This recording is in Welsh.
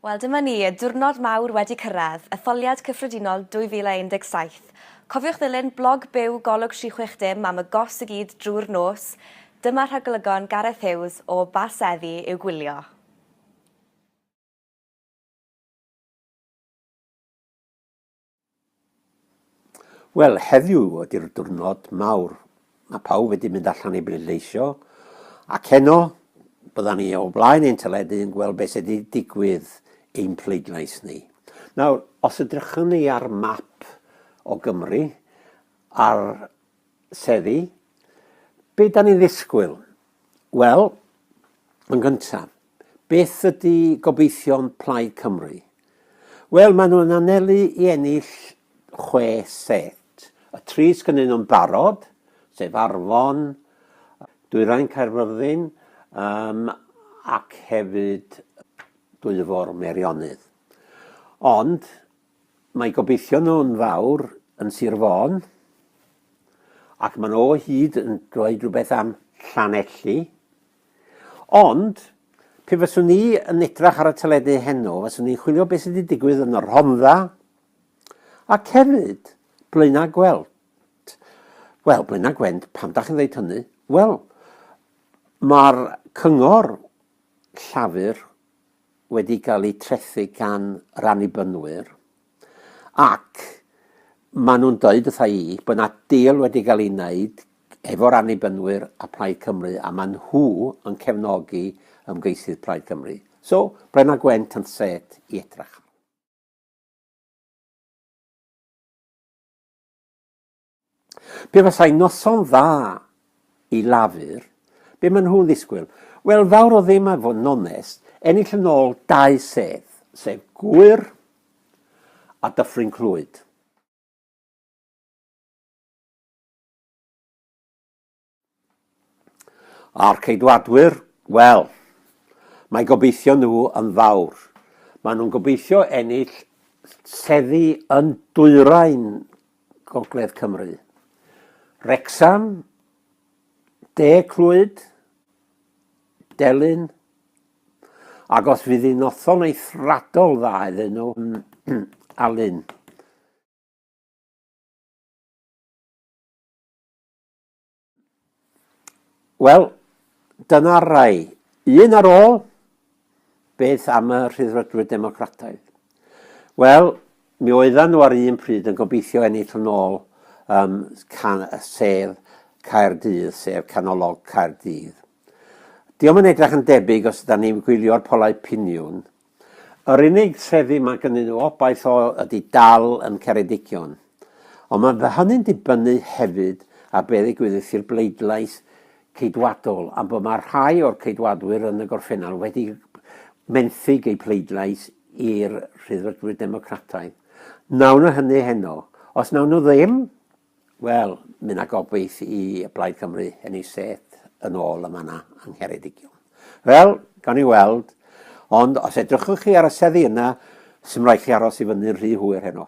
Wel, dyma ni, y diwrnod mawr wedi cyrraedd, Etholiad Cyffredinol 2017. Cofiwch ddilyn blog byw Golwg 360 am y gos i gyd drwy'r nos. Dyma rhagolygon Gareth Hughes o ba seddi i'w gwylio. Wel, heddiw ydy'r diwrnod mawr. Mae pawb wedi mynd allan i bleidleisio, ac heno byddan ni o blaen ein teledu yn gweld beth sydd wedi digwydd ein pleidlais ni. Nawr, os edrychwn ni ar map o Gymru, ar Seddi, be da ni'n ddisgwyl? Wel, yn gyntaf, beth ydy gobeithion Plaid Cymru? Wel, maen nhw'n anelu i ennill chwe set. Y tri sgynnyn nhw'n barod, sef Arfon, Dwyrain Caerfyrddin um, ac hefyd Dwyfor Meirionydd. Ond Mae gobeithio nhw'n fawr yn Sir Fôn, ac maen nhw o hyd yn dweud rhywbeth am Llanelli. Ond, pe fyswn ni yn edrach ar y teledu heno, fyswn ni'n chwilio beth sydd wedi digwydd yn y Rhondda, ac hefyd, Blaenau Gwent. Wel, Blaenau Gwent, pam da chi'n dweud hynny? Wel, mae'r cyngor Llafur wedi cael eu trethu gan yr Annibynwyr, ac maen nhw'n dweud wrtha i bod yna deal wedi cael ei wneud efo'r Annibynwyr a Plaid Cymru, a maen nhw yn cefnogi ymgeisydd Plaid Cymru. So, Brenna Gwent yn set i edrach. Pe fasai noson dda i Lafur, be maen nhw'n ddisgwyl? Wel, fawr o ddim a fod yn onest, ennill yn ôl dau sedd, sef Gŵyr a Dyffryn Clwyd. A'r Ceidwadwyr, wel, mae gobeithio nhw yn fawr. Maen nhw'n gobeithio ennill seddi yn dwyrain Gogledd Cymru. Wrecsam, De Clwyd, Delyn, ac os fydd hi'n noson eithradol dda iddyn nhw, mm, Alun. Wel, dyna'r rai. Un ar ôl, beth am y rhyddfrydwyr democrataidd? Wel, mi oedden nhw ar un pryd yn gobeithio ennill yn ôl um, can, sef Caerdydd, sef canolog Caerdydd. Diolch yn edrych yn debyg os yda ni'n gwylio'r polau piniwn, Yr unig trefi mae gynnyn nhw obaith o ydy dal yn Ceredigion. Ond mae fy hynny'n dibynnu hefyd ar be ddigwyddith i'r bleidlais Ceidwadol am bod mae rhai o'r Ceidwadwyr yn y gorffennol wedi menthyg eu pleidlais i'r Rhyddfrydwyr Democrataidd. Nawn nhw hynny heno. Os nawn nhw ddim, Wel, mae yna gobaith i Blaid Cymru ennill set yn ôl y mannau yng Ngheredigion. Wel, gawn ni weld, ond os edrychwch chi ar y seddi yna, sy'n rhaid chi aros i fyny'n rhy hwyr heno.